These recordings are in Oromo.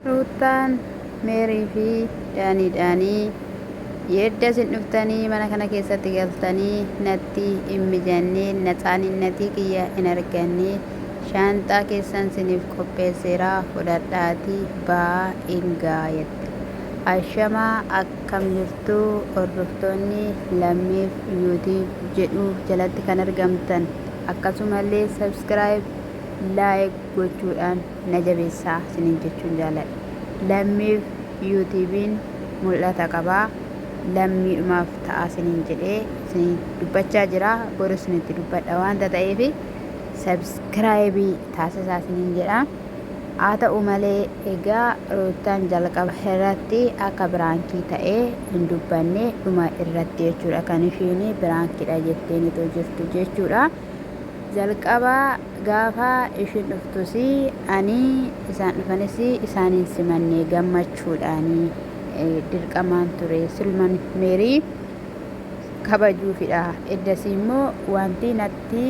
Ruuttaan, Meerii fi Daaniidhaanii yeedda isin dhuftanii mana kana keessatti galtanii natti in mijannee naxaaninnatii kiyya in arganne shaanxaa keessan siniif qopheesseera fudhadhaatii ba'aa in ga'aa jette. Ashama akkam jirtu hordoftoonni Lammiif YouTube jedhu jalatti kan argamtan akkasumallee subscribe like gochuudhaan. na jabeessaa isiniin jechuun jaaladha. Lammiif Yuutuubiin mul'ata qaba. Lammiidhumaaf ta'aa isiniin jedhee isinii dubbachaa jira. Boru isinitti dubbadha waanta ta'eef sabskiraayibii taasisaa isiniin jedha. Haa ta'u malee egaa Ruuttaan jalqaba irratti akka biraankii ta'ee hin dubbanne dhuma irratti jechuudha kan ishiin biraankiidha jetteen itoo jirtu jechuudha. Jalqaba Gaafa ishiin dhuftus ani, isaan dhufanis isaan hin simanne, gammachuudhaan dirqamaan ture. Silman Meerii kabajuufidha. Eddasii immoo wanti natti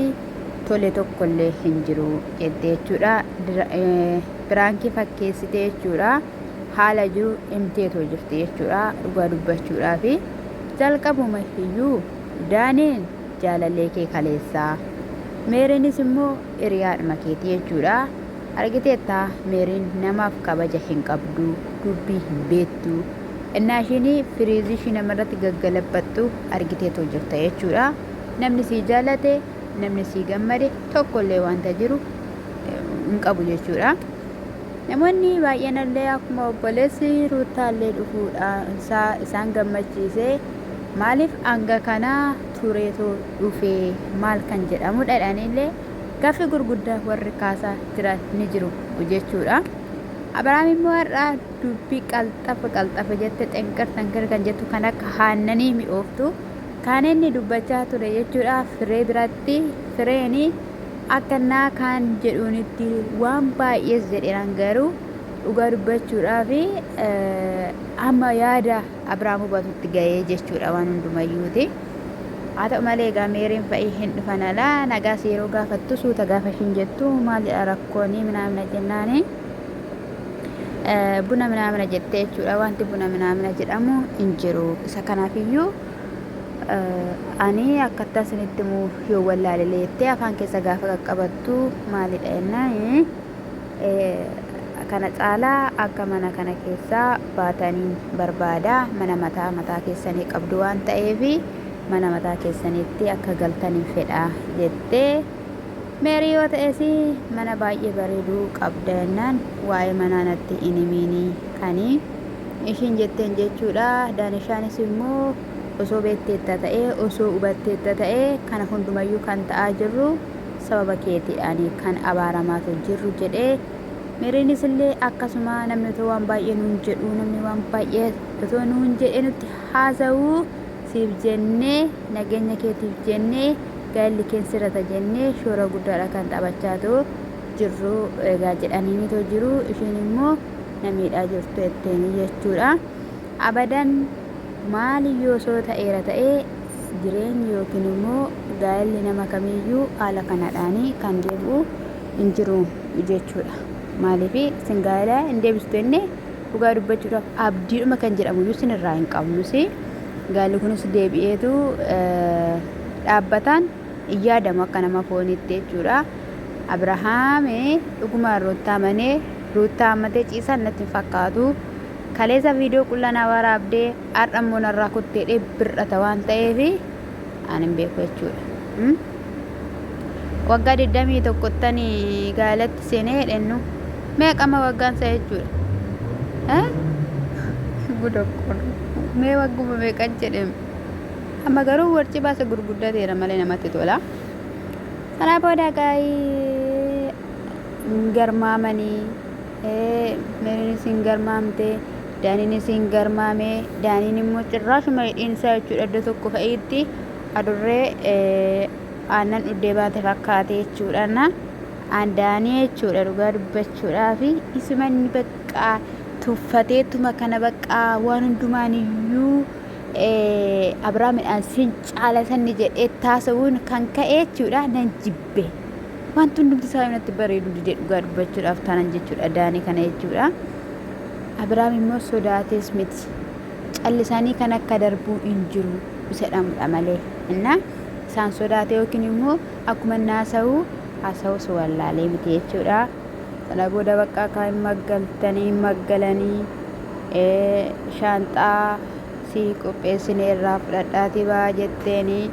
tole tokkollee hin jiru jette jechuudha. Piraankii fakkeessite jechuudha. Haala jiru himteetoo jirti jechuudha. Dhugaa dubbachuudhaaf jalqabuma iyyuu Daaniin jaalallee kee kaleessaa. Meeriinis immoo hiriyaadhuma keeti jechuudha. Argiteetta Meeriin namaaf kabaja hin qabdu, dubbii hin beektu. Ennaa ishiin firiizii ishii namarratti gaggalabbattu argiteetoo jirta jechuudha. Namni sii jaalate, namni sii gammade tokkollee wanta jiru hin qabu jechuudha. Namoonni baay'eenallee akkuma obboleessi Ruuttaallee dhufuudhaan isaa isaan gammachiisee Maalif hanga kana tureetoo dhufee maal kan jedhamudha jedhaniillee gaaffii gurguddaa warri kaasaa jiran ni jiru jechuudha. Abiraam immoo har'a dubbii qalxafa qalxafa jette xenqir xenqir kan jettu kan akka haannanii mi'ooftu kan inni dubbachaa ture jechuudha firee biratti fireeni akka naa kaan jedhuunitti waan baay'ees jedheeraan garuu dhugaa dubbachuudhaa fi amma yaada Abraam hubatutti ga'ee jechuudha waan hundumayyuuti. Haa ta'u malee egaa Meeriin fa'i hin dhufan alaa nagaas yeroo gaafattu suuta gaafa ishiin jettu maal jedha rakkooni minaamina jennaani buna minaamina jettee jechuudha wanti buna minaamina jedhamu hin jiru isa kanaafiyyuu ani akkattaa isinitti muu yoo wallaalelee jettee afaan keessa gaafa qaqqabattu maalidha jennaan kana caalaa akka mana kana keessaa baataniin barbaada. Mana mataa mataa keessanii qabdu waan ta'eef mana mataa keessaniitti akka galtaniin fedha jette. Meerii yoo ta'es mana baay'ee bareedu qabda jennaan waa'ee manaa natti hin himiini kani ishiin jetteen jechuudha. Daanishaanis immoo osoo beekteetta ta'ee osoo hubatteetta ta'ee kana hundumayyuu kan ta'aa jirru sababa keeti ani kan abaaramaatu jirru jedhe. Meeriinis illee akkasuma namni otoo waan baay'ee nuun jedhu namni waan baay'ee otoo nuun jedhee nutti haasa'u siif jennee nageenya keetiif jennee gaa'elli keen sirrata jennee shoora guddaadha kan taphachaatu jirru egaa jedhaniini too jiru ishiin immoo na miidhaa jirtu jetteeni jechuudha. Abadan maali yoo soo ta'eera ta'ee Jireenyi yookiin immoo gaa'elli nama kamiiyyuu haala kanadhaan kan deebi'u hin jiru jechuudha. Maaliif isin gaa'ela hin deebistu jennee dhugaa dubbachuudhaaf abdiidhuma kan jedhamu iyyuu isin irraa hin qabnus. Gaa'elli kunis deebi'eetu dhaabbataan hin yaadamu akka nama fooniitti jechuudha. Abirahaam dhuguma ruuttaa manee ruuttaa hammatee ciisaan natti hin fakkaatu. Kaleessa viidiyoo qullanaa waraabdee Har'a immoo narraa kutte jedhee bir'ata waan ta'eef an hin beeku jechuudha. Hmm? Waggaa 21 ttan gaalatti seenee jedhennu meeqama waggaan isaa jechuudha. Eh? Guda kun mee wagguma meeqan jedhem. Amma garuu warci baasa gurguddateera malee namatti tola. Kanaa booda gaa'ii hin garmaamanii Ee, Meeriinis hin garmaamte, Daaniinis hin garmaame. Daaniin immoo cirraashuma hidhiin isaa jechuudha iddoo tokko fa'iitti adurree ee, aannan dhuddee baate fakkaate jechuudha. Na aan Daanii jechuudha dhugaa dubbachuudhaaf isuma inni bakka tuffateetuma kana bakka waan hundumaan iyyuu ee, Abiraamidhaan sin caala sanni jedhee taasisuun kan ka'e jechuudha nan jibbe. be wanti hundumti isaa natti bareedu dide dhugaa dubbachuudhaaf taanan jechuudha daanii kana jechuudha abiraam immoo sodaatees miti callisaanii kan akka darbuu hin jiru isa dhamudha malee innaa isaan sodaate yookiin immoo akkuma naasa'u haasa'u si wallaalee miti jechuudha sana booda bakka akka hin maggaltanii hin maggalanii shaanxaa si qopheessinee irraa fudhadhaatii baa jetteenii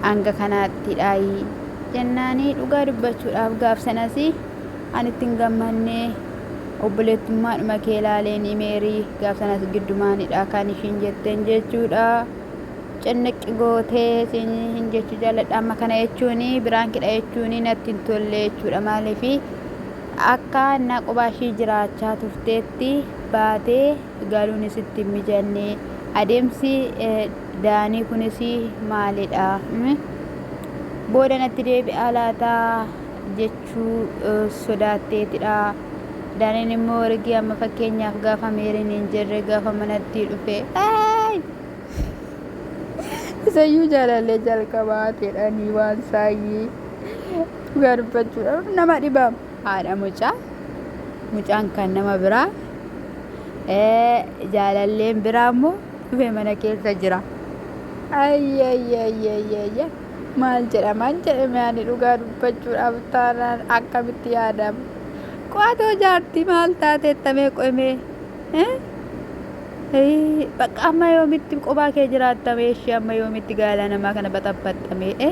hanga kanaatti dhaayi jennaanii dhugaa dubbachuudhaaf gaaf sanas an itti hin gammanne obboleettummaadhuma kee laaleenii meerii gaaf sanas giddumaanidha kan ishiin jetteen jechuudha cinniqqi gootee siin hin jechuu jaalladha amma kana jechuun biraankidha jechuun natti hin tolle jechuudha maaliif akka annaa qubaa ishii jiraachaa turteetti baatee galuunis itti hin mijanne adeemsi eh, Daanii kunis maalidha? Booda natti deebi'aa laata jechuu sodaatteetidha. Daaniin immoo ergi amma fakkeenyaaf gaafa meeriin hin jirre gaafa manatti dhufe isayyuu jaalallee jalqabaa jedhanii waan saayyii dhugaa dubbachuudhaaf nama dhiba. Haadha mucaa mucaan kan nama biraa jaalalleen biraa immoo dhufe mana keessa jira. Ayyayyayyayyayya maal jedhaman jedhame ani dhugaa dubbachuudhaaf taanaan akkamitti yaadama. Qo'atoo jaartii maal taate tamee qo'imee. Bakka amma yoomitti qophaa kee jiraattamee ishee amma yoomitti gaala namaa kana baxabbaxxamee.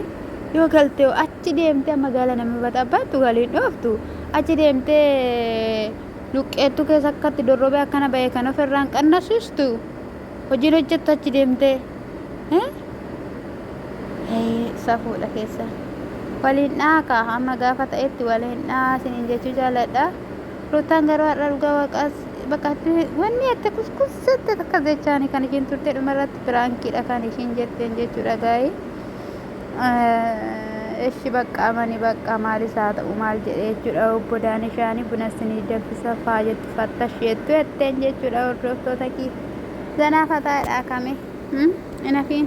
Yoo galtee achi deemtee amma gaala nama baxabbaxxu galiin dhooftu achi deemtee Luqqeettu keessa akka itti dorrobee akkana ba'e kan of irraan qannasistu hojiin hojjettu achi deemtee safuudha keessa waliin dhaaka amma gaafa ta'etti waliin dhaa sinin jechuu jaaladha ruutaan garuu har'a dhugaa waaqaas bakka wanni akka kuskussatti akka jechaani kan ishiin turte dhumarratti piraankiidha kan ishiin jetteen jechuudha gaa'ii. Eshi baqqaa mani baqqaa maalis haa ta'u maal jedhee jechuudha obbo Daanishaani buna isinii danfisa faa jettu fattash jettu jetteen jechuudha hordoftoota kii zanaa fataadhaa kame inafiin